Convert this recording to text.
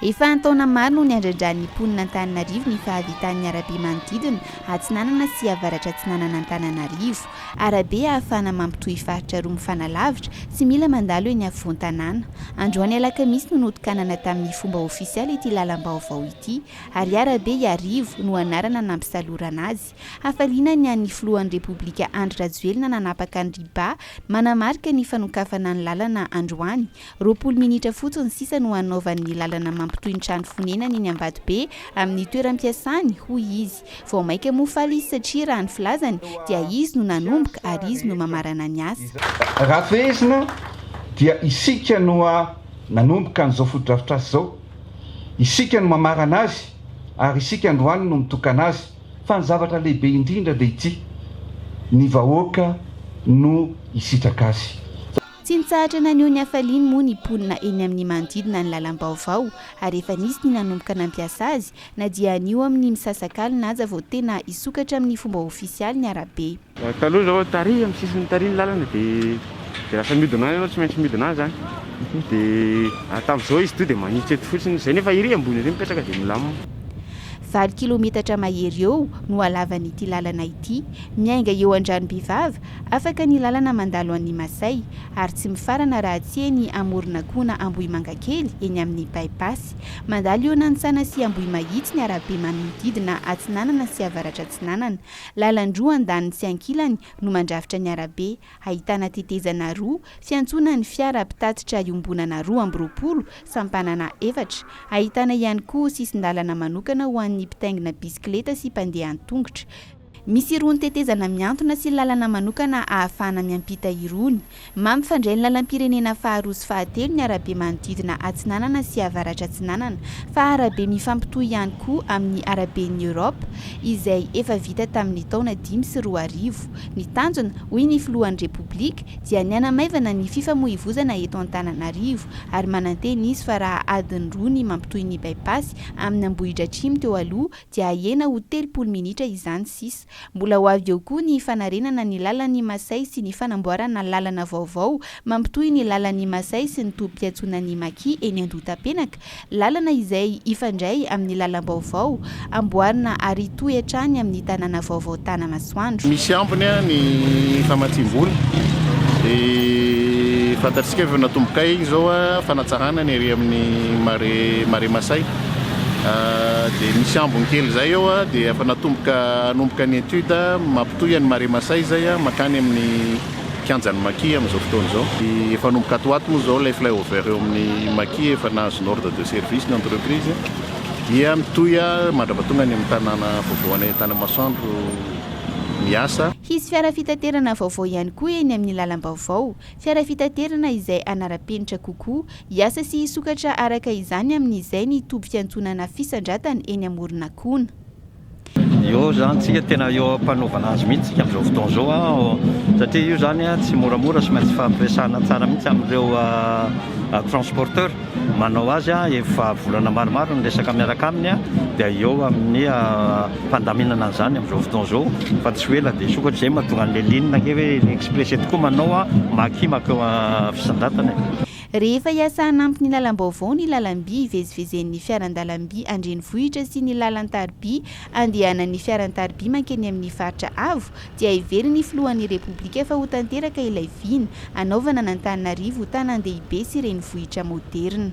Efa an-taona maro no niandrandran'ny mponin'Antananarivo ny fahavitan'ny arabe manodidina atsinanana sy avaratra-atsinanan'Antananarivo. Arabe ahafahana mampitohy faritra roa mifanalavitra, tsy mila mandalo eny afovoan-tanàna. Androany alakamisy no notokanana tamin'ny fomba ofisialy ity lalam-baovao ity. Ariarabe Iarivo no anarana nampisalorana azy. Hafaliana ny an'ny filohan'ny Repoblika Andry Rajoelina nanapaka ny riba manamarika ny fanokafana ny lalana androany, roapolo minitra fotsiny sisa no hanaovany ny lalana mampitohy ny trano fonenany eny Ambatobe amin'ny toeram-piasany, hoy izy. Vao maika moa faly izy satria raha ny filazany dia izy no nanomboka ary izy no mamarana ny asa. Raha fehezina dia isika no nanomboka an'izao fotodrafitrasa izao, isika no mamarana azy ary isika androany no mitokana azy. Fa ny zavatra lehibe indrindra dia ity, ny vahoaka no hisitraka azy. Tsy nitsahatra naneho ny hafaliany moa ny mponina eny amin'ny manodidina ny lalam-baovao ary efa nisy ny nanomboka nampiasa azy na dia anio amin'ny misasak'alina aza vao tena hisokatra amin'ny fomba ofisialy ny arabe. Taloha zao tary am sisiny tary ny lalana de de lasa miodina any anao tsy maintsy miodina any zany de ary tamzao izy toa de manitsy eto fotsiny zay nefa ery ambony ery mipetraka de milamina. Valo kilometatra mahery eo no halavan'ity lalana ity. Miainga eo Andranombivava, afaka ny lalana mandalo an'i Masay, ary tsy mifarana raha tsy eny Amoron'Akoho na Ambohimangakely, eny amin'ny By-Pass. Mandalo eo Nantsana sy Ambohimahitsy ny arabe manodidina Atsinanana sy Avaratr'Atsinanana. Lalan-droa andaniny sy ankilany no mandrafitra ny arabe, ahitana tetezana roa, fiantsonan'ny fiara mpitatitra iombonana roa amby roapolo, sampanana efatra. Ahitana ihany koa sisin-dalana manokana ho an'ny mpitaingina bisikileta sy mpandeha an-tongotra. Misy irony tetezana mihantona sy lalana manokana ahafahana miampita irony. Mampifandray ny lalam-pirenena faharoa sy fahatelo ny arabe manodidina Atsinanana sy Avaratra-Atsinanana, fa arabe mifampitohy ihany koa amin'ny Araben'i Europe, izay efa vita tamin'ny taona dimy sy roa arivo. Ny tanjona, hoy ny filohan'ny Repoblika, dia ny hanamaivana ny fifamoivozana eto Antananarivo, ary manantena izy fa raha adiny roa ny mampitohy ny By-Pass amin'Ambohidratrimo teo aloha, dia hahena ho telopolo minitra izany sisa. Mbola ho avy eo koa ny fanarenana ny lalan'i Masay sy ny fanamboarana lalana vaovao mampitohy ny lalan'i Masay sy ny tobim-piantsonan'i Maki eny Andohatapenaka, lalana izay hifandray amin'ny lalam-baovao amboarina ary hitohy hatrany amin'ny tanàna vaovao Tanamasoandro. Misy ambiny ny famatsiam-bola dia fantatsika efa natombokay izao fanatsarana ny ery amin'ny Marais Masay. dia misy ambiny kely izay eo dia efa natomboka hanomboka ny étude mampitohy an'i Maremasay izay mankany amin'ny kianjan'i Maki amin'izao fotoana izao. Efa hanomboka ato ho ato moa izao ilay flyover eo amin'ny Maki, efa nahazo ny ordre de service ny entreprise dia mitohy mandrapa tonga any amin'ny tanàna vaovao any Tanamasoandro ny asa. Hisy fiara fitaterana vaovao ihany koa eny amin'ny lalam-baovao. Fiara fitaterana izay hanara-penitra kokoa, hiasa sy hisokatra araka izany amin'izay ny toby fiantsonana fisandratana eny Amoronakona. Eo izany tsika tena eo ampanaovana azy mihitsy tsika amin'izao fotoana izao an! satria io izany tsy moramora sy maintsy hifampiresahana tsara mihitsy amin'ireo transporteur. manao azy efa volana maromaro ny resaka miaraka aminy dia eo amin'ny fandaminana an'izany amin'izao fotoana izao fa tsy ho ela dia hisokatra izay mahatonga an'i Leline ange hoe ry Express eto koa manao maki makeo fisondratana e. Rehefa hiasa hanampy ny lalam-baovao ny lalam-by hivezivezen'ny fiaran-dalam-by an-drenivohitra sy ny lalan-tariby andehanan'ny fiaran-tariby mankeny amin'ny faritra avo, dia heverin'ny ny filohan'ny Repoblika fa ho tanteraka ilay vina, hanaovana an'Antananarivo ho tanàn-dehibe sy renivohitra moderina.